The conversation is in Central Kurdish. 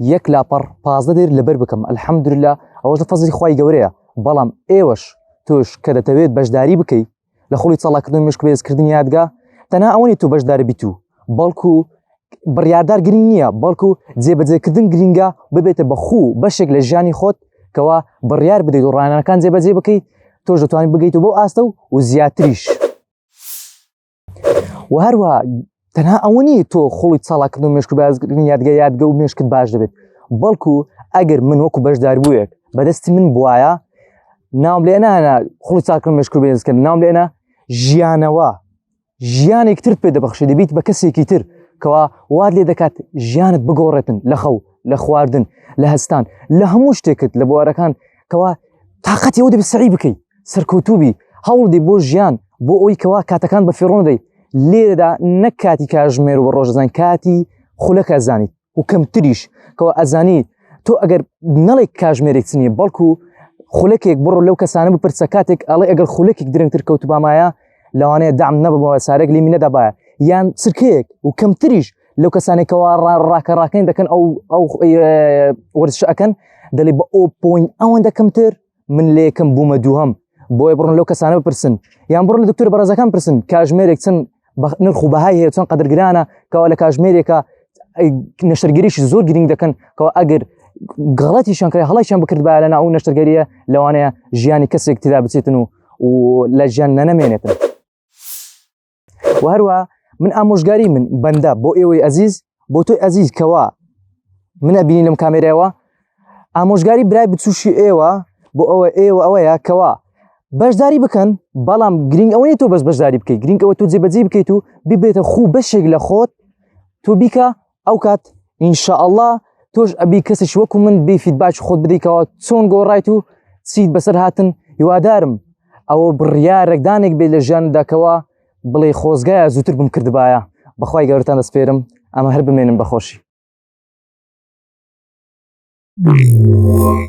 یەک لاپەڕ پازدە دێر لەبەر بکەم ئەلحەمدرلا ئەوەش لە فەزری خی گەورەیە بەڵام ئێوەش تۆش کە دەتەوێت بەشداری بکەیت لە خۆڵی چاڵاکردن مشک بێزکردن یادگا تەنا ئەوەنی تو بەشدار بیت و بەڵکو بڕاردار گرنگ نییە بەڵکو جێبەجێکردن گرنگە ببێتە بە خوو بەشێک لە ژیانی خۆت کەوا بڕیار بدەیت و ڕانەکان جێبەجێ بکەیت تۆش دەتوانین بگەیت و بۆ ئاستە و و زیاتریش. و هەروە تەنها ئەوە نیە تۆ خۆڵی چاڵاکرد و مشک بازگرنی یادگە یادگە و مشکت باش دەبێت بەڵکو ئەگەر من وەکو بەشدار بووێک بەدەستی من بواە ناوم لێنا خۆڵی چاکرد مشک و بێزکرد ناوم لێنا ژیانەوە ژیانێک تر پێ دەبخشی دەبیت بە کەسێکی تر کەوا واد لێ دەکات ژیانت بگۆڕێتن لە خەو لە خواردن لە هەستان لە هەموو شتێکت لە بوارەکان کەوا تااقەتی ئەو دەبی سەری بکەیت سەرکەوتوبی هەوڵدی بۆ ژیان بۆ ئەوی کەوا کاتەکان بە فێڕۆندەی لێرەدا نەک کاتی کاژمێر و بە ڕۆژەزان کاتی خولەکە زانیت و کەمتریش کەەوە ئەزانی تۆ ئەگەر نەڵێک کاژمێرێک چنیە بەڵکو خولەکێک بڕۆ لەو کەسانە بپرسە کاتێک ئەڵێ ئەگەر خولەکێک درنگتر کەوت بامایە لەوانەیە دام نەبەوە سارێک لی منەدابایە یان سرکەیەک و کەمتریش لەو کەسانێکەوە ڕاکە ڕاکەین دەکەن ئەو ئەو وەرزش ئەەکەن دەڵێ بە ئەو پوین ئەوەندە کەمتر من لە یەکەم بوومە دووهم بۆیە بڕن لەو کەسانە بپرسن یان بڕن لە دکتور بەڕێزەکان پرسن کاژمێرێک چەند نرخ و بەهای هەیە چۆن قەدرگرانە کەوا لە کاژمێرێکە نەشتەرگەریش زۆر گرنگ دەکەن کەەوە ئەگەر گەڵەتی شانکرای هەڵیشان بکردبا لە ناو نەشتەرگەریە لەوانەیە ژیانی کەسێک تدا بچێتن و لە ژیان نەنەمێنێتن. وهروە من ئامۆژگاری من بەندە بۆ ئێوەی ئەزیز بۆ تۆی ئەزیز کەوا من ئەبینی لەم کامێرەوە ئامۆژگاری برای بچوشی ئێوە بۆ ئەوە ئێوە ئەوەیە کەوا بەشداری بکەن بەڵام گرنگ ئەوەی تۆ بەس بەشداری بکەیت گرنگ ئەوە تۆ جێبەجی بکەیت و ببێتە خوو بەشێک لە خۆت تۆ بیکە ئەو کات ئینشاءله تۆش ئەبی کەسش وەکو من بی فیدباچ خۆت بدەیتەوە چۆن گۆڕایت و چیت بەسەر هاتن هیوادارم ئەوە بڕیارێکدانێک بێ لە ژیان داکەوە بڵێ خۆزگایە زووتر بم کردبایە بەخوای گەورتان دەسپێرم ئەمە هەر بمێنم بەخۆشی Yeah.